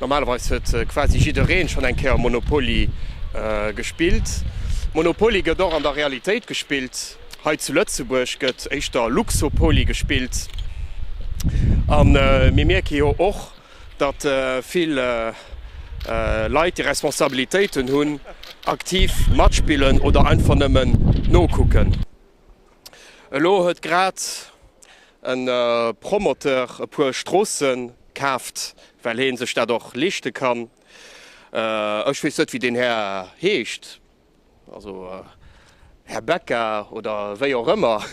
Normalerweis huet quasi jiddereen schon eng Kéier Monopoly gespillt. Monopoly gëtt och an der Realitéit gespillt. Hei zu Lëtzebuerg gëtt éischter Luxopoly gespillt. A mir mierke jo och, datt vill Leit déi Responsabilitéiten hunn, aktiv matspillen oder einfach nëmmen nokucken. Elo huet grad e Promoteur e puer Stroosse kaaft, well hee sech dat och leeschte kann. Ech weess net wéi deen Här heescht, also Här Becca oder wéi och ëmmer,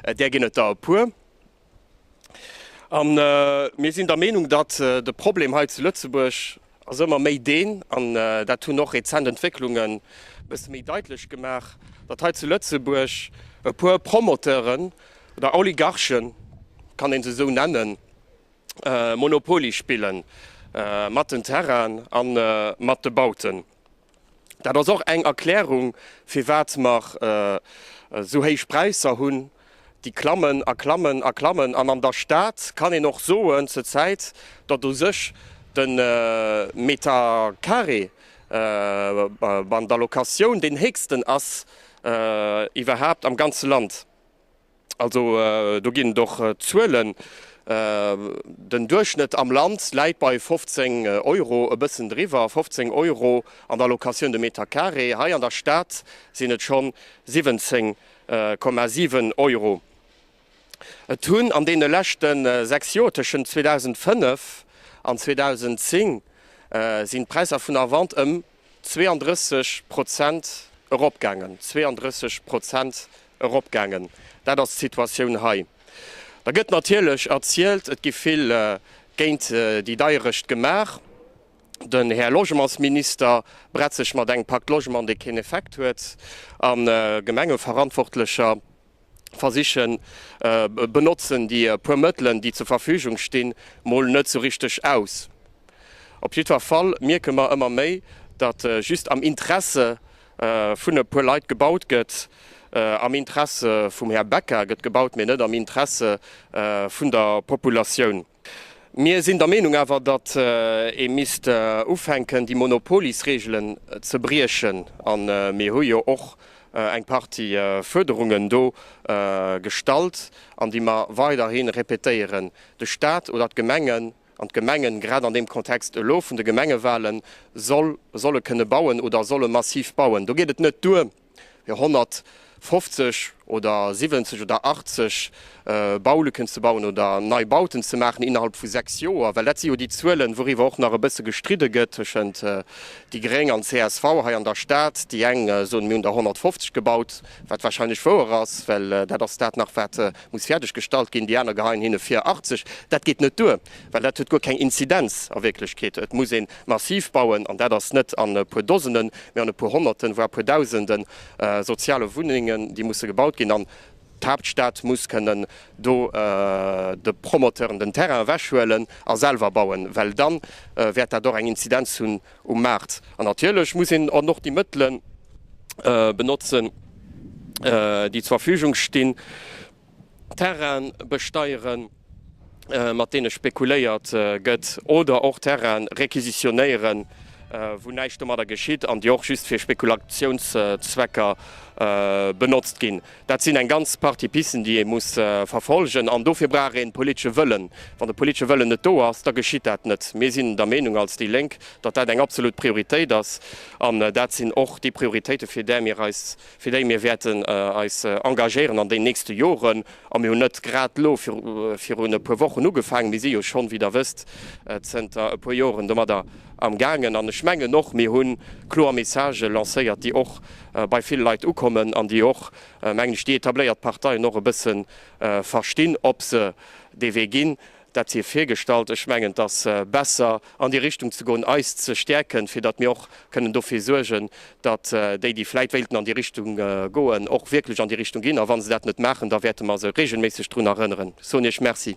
där ginn et der e puer. An mir sinn der Meenung, datt de Problem hei zu Lëtzebuerg ass ëmmer méi deen, an dat hunn och rezent Entwécklungen e bësse méi daitlech gemaach, datt hei zu Lëtzebuerg e puer Promoteuren oder Oligarchen, kann een se esou nennen, Monopoly spille mat den Terrainen a mat de Bauten. Dat ass och eng Erklärung, firwat mer esou héich Präisser hunn, déi klammen a klammen a klammen. An an der Stad kann een och soen zur Zäit, datt u sech de Meter carré an der Locatioun deen héchsten ass iwwerhaapt am ganze Land. Also do ginn et och Zuelen. Den Duerchschnëtt am Land läit bei 15 Euro, e bëssen driwwer, 15 Euro an der Locatioun de Meter carré. Hei an der Stad sinn et schonn 17,7 Euro. Et hunn an deene leschte sechs Joer, tëschent 2005 an 2010, sinn d'Präisser vun der Vente ëm 32 Prozent eropgaangen, 32 Prozent eropgaangen, dat ass d'Situatioun hei. Da gëtt natierlech erzielt, et gi vill géint déi Deierecht gemaach. Den Här Logementsminister bretzt sech mat engem Pacte Logement, dee keen Effekt huet, a Gemengeverantwortlecher, versichen benotzen déi puer Mëttelen déi zur Verfügung stinn mol net sou richteg aus. Op jiddwer Fall mierke mer ëmmer méi datt just am Interesse vun e puer Leit gebaut gëtt, am Interesse vum Här Becker gëtt gebaut mee net am Interesse vun der Populatioun. Mir sinn der Meenung awer, datt ee misst ufänken, déi Monopolisregelen ze briechen. A mir hu jo och eng Partie Fuerderungen do gestallt an déi mer weiderhi répétéieren, De Stat oder d'Gemengen, an d'Gemengen grad an deem Kontext elo vun de Gemengewalen, solle kënne bauen oder solle massiv bauen. Do geet et net duer, jo 150 oder 70 oder 80 Baulücken ze bauen oder Neibauten ze maachen innerhalb vu sechs Joer, well dat si jo déi Zuelen, wouriwwer och nach e bësse gestridde gëtt tëschent déi gréng an csv hei an der Stad. Déi eng soen, mir hunn der 150 gebaut, wat warscheinlech wouer ass, well dat ass dat nach, wat muss fäerdeggestallt ginn, déi aner geheien hinne vir 80. Dat geet net duer, well dat huet guer keng Inzidenz a Wierklechkeet. Et muss een Massiv bauen, an dat ass net an e puer Dosenen, mä an e puer Honnerten, voir puer Dausende soziale Wunnengen, déi musse gebaut ginn. An d'Haaptstad muss kënnen do de Promoteuren den Terrain ewechhuelen a selwer bauen, well dann wäert dat och eng Inzidenz hunn um Maart. An natierlech muss een dann och déi Mëttele benotzen, déi zur Verfügung stinn. Terraine besteieren, mat deene spekuléiert gëtt, oder och Terraine requisitionéieren, wou näischt domadder geschitt an déi och just fir Spekulationszwecker benotzt ginn. Dat sinn eng ganz Partie Pisten, déi ee muss verfolgen. An dofir brauch een politesche Wëllen. Wann de politesche Wëllen net do ass, da geschitt dat net. Mir sinn der Meenung als déi Lénk, datt dat eng absolut Prioritéit ass. An dat sinn och déi Prioritéiten, fir där mir eis fir déi mir wäerten eis engagéieren an den nächste Joren, a mir hunn net grad elo virun e puer Wochen ugefaangen, mir si jo schonn, wéi Der wësst, zënter e puer Joren domadder amgaangen. An ech mengen och, mir hu kloer Messagë lancéiert, déi och bei vill Leit ukommen an déi och, mengen ech, déi etabléiert Parteien och e bësse verstinn, ob se dee Wee ginn. Dat si virgestallt. Ech mengen, et ass besser an déi Richtung ze goen, eis ze stäerken, fir datt mir och kënnen dofir suergen, datt déi, déi vläit wéilten an déi Richtung goen, och wierklech an déi Richtung ginn. A wa se dat net maachen, da wäerte mer se reegelméisseg drun erënneren. Ech soen Iech Merci.